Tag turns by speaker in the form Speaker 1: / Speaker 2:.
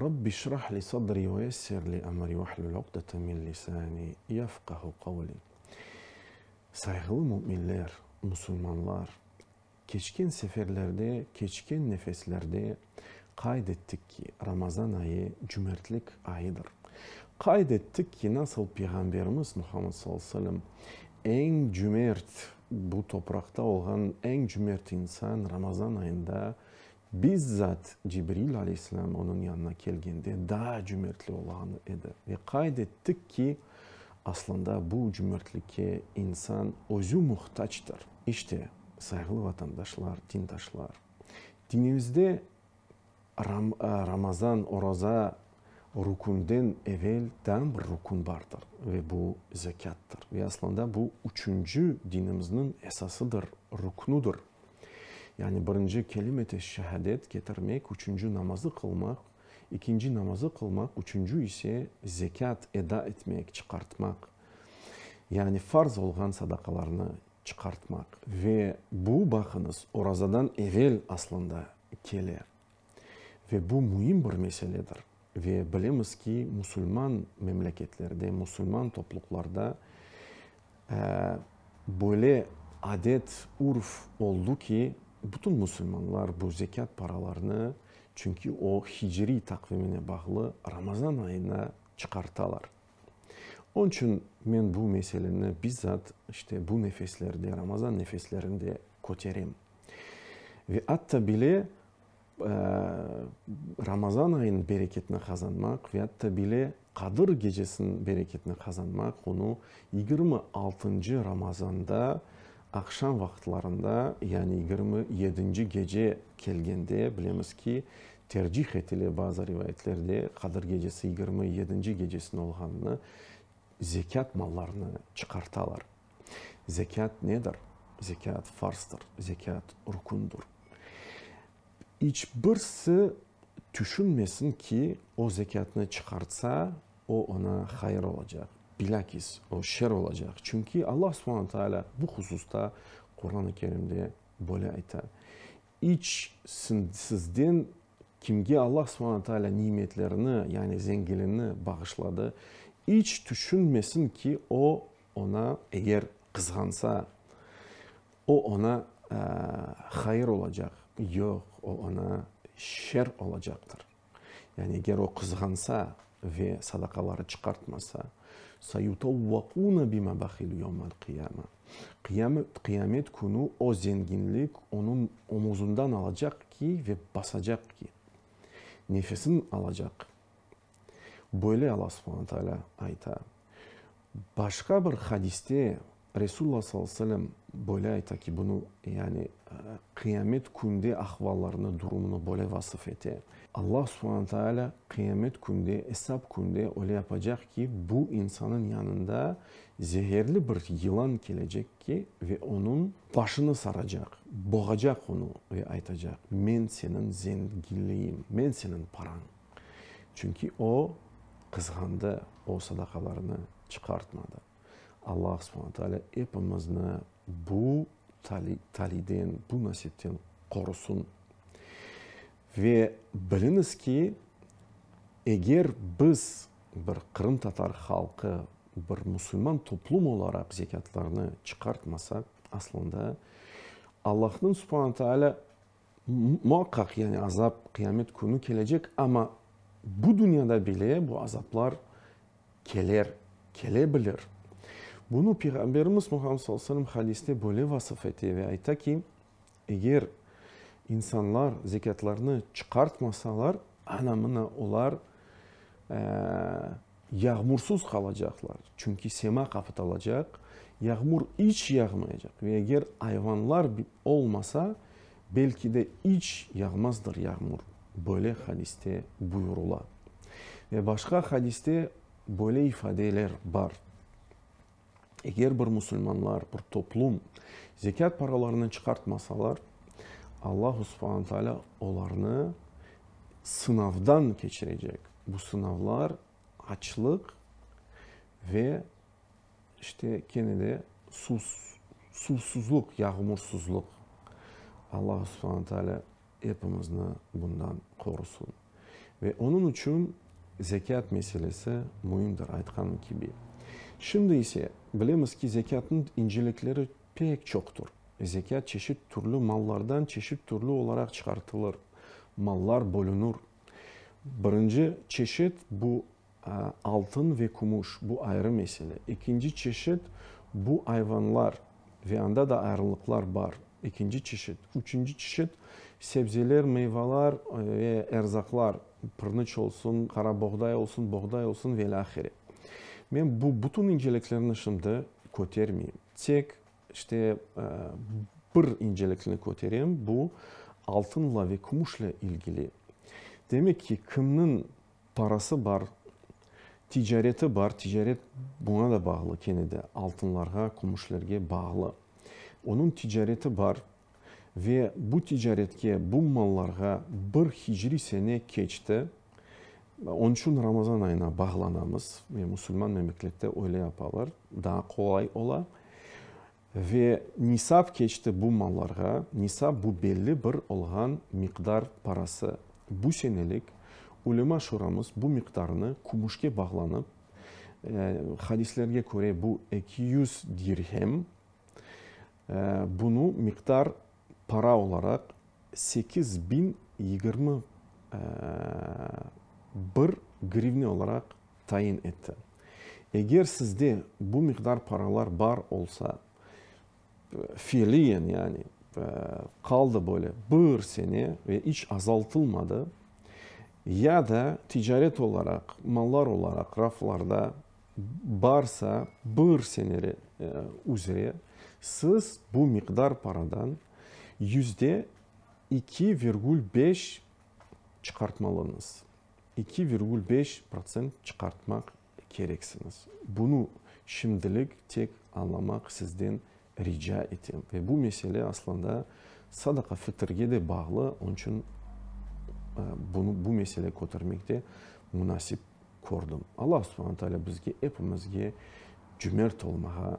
Speaker 1: Rabbi eşrah li sadri ve yessir li emri vehlül ukdeten min lisani yefkahu kavli. Sayğılı müminler, musulmanlar, keçken seferlerde, keçken nefeslerde qayd ettik ki, Ramazan ayı cümertlik ayıdır. Qayd ettik ki, nasıl Peyğamberimiz Muhammed sallallahu aleyhi ve sellem eñ cümert, bu topraqta olğan eñ cümert insan Ramazan ayında Bizzat Cibril aleyhisselam onıñ yanına kelgende daa cümertli olağan edi ve qayd ettik ki, aslında bu cümertlikke insan özü muhtactır. İşte, sayğılı vatandaşlar, dindaşlar, dinimizde Ramazan, oraza, rükünden evel daa bir rükün bardır ve bu zekâttır. Ve aslında bu üçünci dinimizniñ esasıdır, rüknüdir. Yani birinci kelimeti şehadet ketirmek, üçünci namazı qılmaq, ikinci namazı qılmaq, üçünci ise zekât eda etmek, çıqartmaq, yani farz olğan sadaqalarnı çıqartmaq. Ve bu, baqıñız, orazadan evel aslında kele. Ve bu müim bir meseledir. Ve bilemiz ki, musulman memleketlerde, musulman topluqlarda böyle adet, urf oldu ki, bütün musulmanlar bu zekât paralarını, çünki o hicriy taqvimine bağlı, Ramazan ayına çıqartalar. Onıñ içün men bu meseleni bizzat işte bu nefeslerde, Ramazan nefeslerinde köterem. Ve atta bile Ramazan ayınıñ bereketini qazanmaq ve atta bile Qadır gecesiniñ bereketini qazanmaq onı yigirmi altıncı Ramazanda aqşam vaqıtlarında, yani yigirmi yedinci gece kelgende, bilemiz ki, tercih etile bazı rivayetlerde Qadır gecesi yigirmi yedinci gecesine olğanını, zekât mallarını çıqartalar. Zekât nedir? Zekât farzdır, zekât rükündir. İç birisi tüşünmesin ki, o zekâtnı çıqartsa, o oña hayır olacaq, bilâkis o şer olacaq. Çünki Alla subhane taalâ bu hususta Quran-ı Kerimde böyle ayta, İç sizden kimge Alla subhane taalâ nimetlerini, yani zenginliğini bağışladı, iç tüşünmesin ki, o Oña eger qızğansa, o oña hayır olacaq, yoq, o oña şer olacaqtır. Yani eger o qızğansa ve sadaqaları çıqartmasa, Sayutavvaquna bima bahilu yevmal qiyama, qiyamet künü o zenginlik onıñ omuzından alacaq ki ve basacaq ki, nefesini alacaq Böyle Alla subhana taalâ ayta. Başqa bir hadiste Resulullah sallallahu aleyhi ve sellem böyle ayta ki, bunı, yani Qıyamet Künde ahvallarını, durumını böyle vasıf ete. Alla subhana taalâ Qıyamet Künde, Esap Künde öyle yapacaq ki, bu insanın yanında zeherli bir yılan kelecek ki, ve onıñ başını saracaq, boğacaq onı ve aytacaq, men seniñ zenginliğiñ, men seniñ parañ. Çünki o, qızğandı, o sadaqalarını çıqartmadı. Alla subhana taalâ epimizni bu taliyden, bu nasipten qorusın. Ve biliñiz ki, eger biz bir qırımtatar halqı, bir musulman toplum olaraq zekâtlarnı çıqartmasaq, aslında Allahnıñ subhana taalâ Muaqqaq, yani azap, qıyamet künü kelecek, amma bu dünyada bile bu azaplar keler, kele bilir. Bunı Peyğamberimiz Muhammed sallallahu aleyhi ve sellem hadiste böyle vasıf ete ve ayta ki, eger insanlar zekâtlarını çıqartmasalar, ana mına olar Yağmursız qalacaqlar, çünki sema qapatalacaq, yağmur iç yağmayacaq ve eger ayvanlar olmasa, belki de iç yağmazdır yağmur, böyle hadiste buyurula. Ve başqa hadiste böyle ifadeler bar. Eger bir musulmanlar, bir toplum zekât paralarını çıqartmasalar, Allahu subhanu taalâ olarnı sınavdan keçirecek. Bu sınavlar açlıq ve işte kene de suv, suvsuzluq, yağmursuzluq. Allahu subhanu taalâ epimizni bundan qorusun. Ve onıñ içün zekât meselesi müimdir, aytqanım kibi. Şimdi ise, bilemiz ki, zekâtnıñ incelikleri pek çoqtur. Zekât çeşit türlü mallardan çeşit türlü olaraq çıqartılır, mallar bölünür. Birinci çeşit, bu, Altın ve kümüş, bu ayrı mesele. Ekinci çeşit, bu ayvanlar ve anda da ayrılıqlar bar, ekinci çeşit. Üçünci çeşit, sebzeler, meyvalar ve erzaqlar, pırnıç olsun, qara boğday olsun, boğday olsun ve ilâhre. Men bu bütün inceliklerni şimdi kötermeyim. Tek işte bir incelikni köterem, bu altınla ve kümüşle ilgili. Demek ki, kimniñ Parası bar, ticareti bar, ticaret buña da bağlı, kene de altınlarğa, kümüşlerge bağlı. Onıñ ticareti bar ve bu ticaretke, bu mallarğa bir hicriy sene keçti. Onıñ içün Ramazan ayına bağlanamız ve musulman memlekette öyle yapalar, daa qolay ola. Ve nisap keçti bu mallarğa, nisap bu belli bir olğan miqdar parası. Bu senelik Ulema şuramız bu miqdarnı kümüşke bağlanıp, hadislerge köre bu eki yüz dirhem, bunu miqdar para olaraq sekiz biñ yigirmi bir grivne olaraq tayin etti. Eger sizde bu miqdar paralar bar olsa, fiiliyen yani, qaldı böyle bir sene ve iç azaltılmadı, ya da ticaret olaraq, mallar olaraq raflarda barsa bir sene üzre, siz bu miqdar paradan yüzde iki virgül beş çıqartmalıñız. eki virgül beş protsent çıqartmaq kereksiñiz. Bunı şimdilik tek añlamaq sizden rica etem. Ve bu mesele aslında sadaqa fitrge de bağlı, onıñ içün bunı, bu mesele kötermek de munasip kördim. Alla subhana taalâ bizge, epimizge cümert olmağa